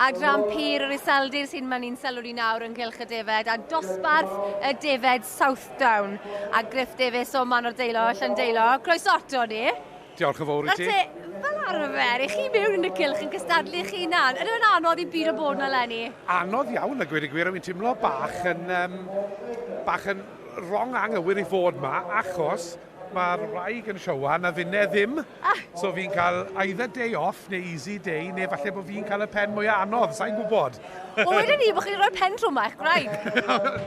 Adran Pyr yr Iseldir sy'n mynd i'n sylw ni nawr ynghylch y defed a dosbarth y defed Southdown a Griff Davies o Man o'r Deilo, Llan Deilo. Croeso ato ni. Diolch yn fawr i ti. Fel arfer, i chi mewn yn y cylch yn cystadlu chi na'n. Ydy fe'n anodd i byd o bod na lenni? Anodd iawn, a gweud y gwir, a fi'n teimlo bach yn, um, bach yn Wrong anghywir i fod ma achos mae'r wraig yn siowan a finne ddim. Ah! So fi'n cael either day off neu easy day neu falle bod fi'n cael y pen mwyaf anodd, sa'n gwybod. Wel wedyn ni bod chi'n rhoi pen trwm eich gwraig.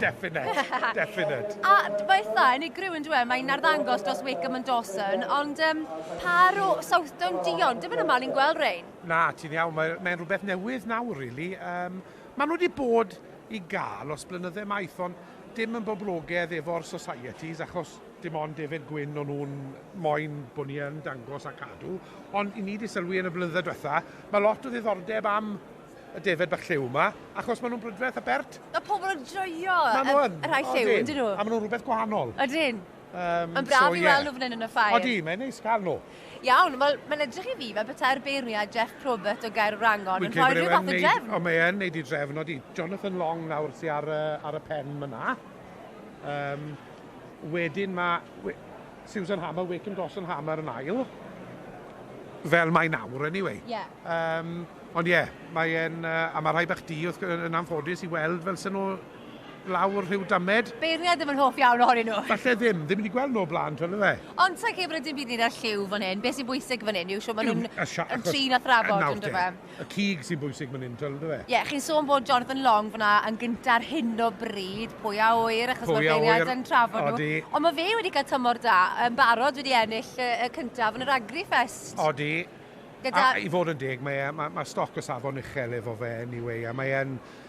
definite, definite. A mae eitha yn ei gryw yn dweud, mae'n arddangos dros Wakeham and Dawson, ond um, par o Southdown Dion, dim yn yma ni'n gweld rein. Na, ti'n iawn, mae'n mae rhywbeth newydd nawr, really. Um, maen nhw wedi bod i gael os blynyddau maith, ond Dim yn boblogedd efo'r societies achos dim ond defaid gwyn o'n nhw'n moyn bod ni yn dangos a cadw, ond i ni 'di sylwi yn y blynydde dwetha, mae lot o ddiddordeb am y defaid bach lliw 'ma, achos maen nhw'n brydferth a bert. Mae pobl yn joio y rhai lliw, ydyn nhw? Maen nhw yn, a maen nhw'n rhywbeth gwahanol. Ydyn. Um, Mae'n braf so, i yeah. weld nhw fan hyn yn y ffair. Odi, mae'n neis cael nhw. Iawn, wel, mae'n edrych i fi fel petai'r beirniad Jeff Probert o Gair Wrangon yn rhoi rhyw fath o drefn. O, mae e'n neud i drefn, odi. Jonathan Long nawr sy'n ar, uh, ar y pen myna. Um, wedyn mae we, Susan Hammer, Wake and Gosson Hammer yn ail. Fel mae nawr, anyway. Yeah. Um, ond ie, yeah, mae'n... Uh, a mae rhai bach di, yn anffodus, i weld fel sy'n nhw lawr rhyw damed. Beirniad ddim yn hoff iawn ohonyn nhw. Falle ddim, ddim wedi gweld nhw o blaen twel yfe? Ond sa i'n credu bod e dim byd i wneud â'r lliw fan hyn, be sy'n bwysig fan hyn yw shwt maen nhw'n ymdrin â thrafod yn dyfe? Nawr te, y cig sy'n bwysig fan hyn twel yn dyfe? Ie, chi'n sôn bod Jonathan Long fan'na yn gynta ar hyn o bryd, pwy a ŵyr achos mae'r beirniaid yn trafod nhw. Odi. Ond mae fe wedi cael tymor da, yn barod wedi ennill y cyntaf yn yr Agrifest. Odi. Gyda... A i fod yn deg mae e, mae stoc o safon uchel efo fe anyway a mae e'n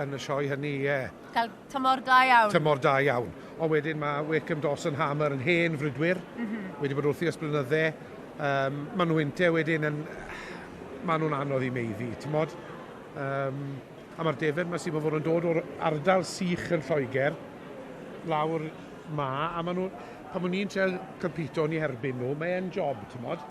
Yn y sioe hynny, ie. Cael tymor da iawn. Tymor da iawn. Ond wedyn mae Wakeham Dawson Hammer yn hen frwydwyr. Mm -hmm. Wedi bod wrthi ers blynydde. Um, mae nhw inte wedyn yn... Mae nhw'n anodd i meiddi, ti'n modd? Um, a mae'r defer mae sy'n fod yn dod o'r ardal sych yn Lloegr, lawr ma, a mae nhw... Pan o'n i'n treol cympito ni herbyn nhw, mae e'n job, ti'n modd?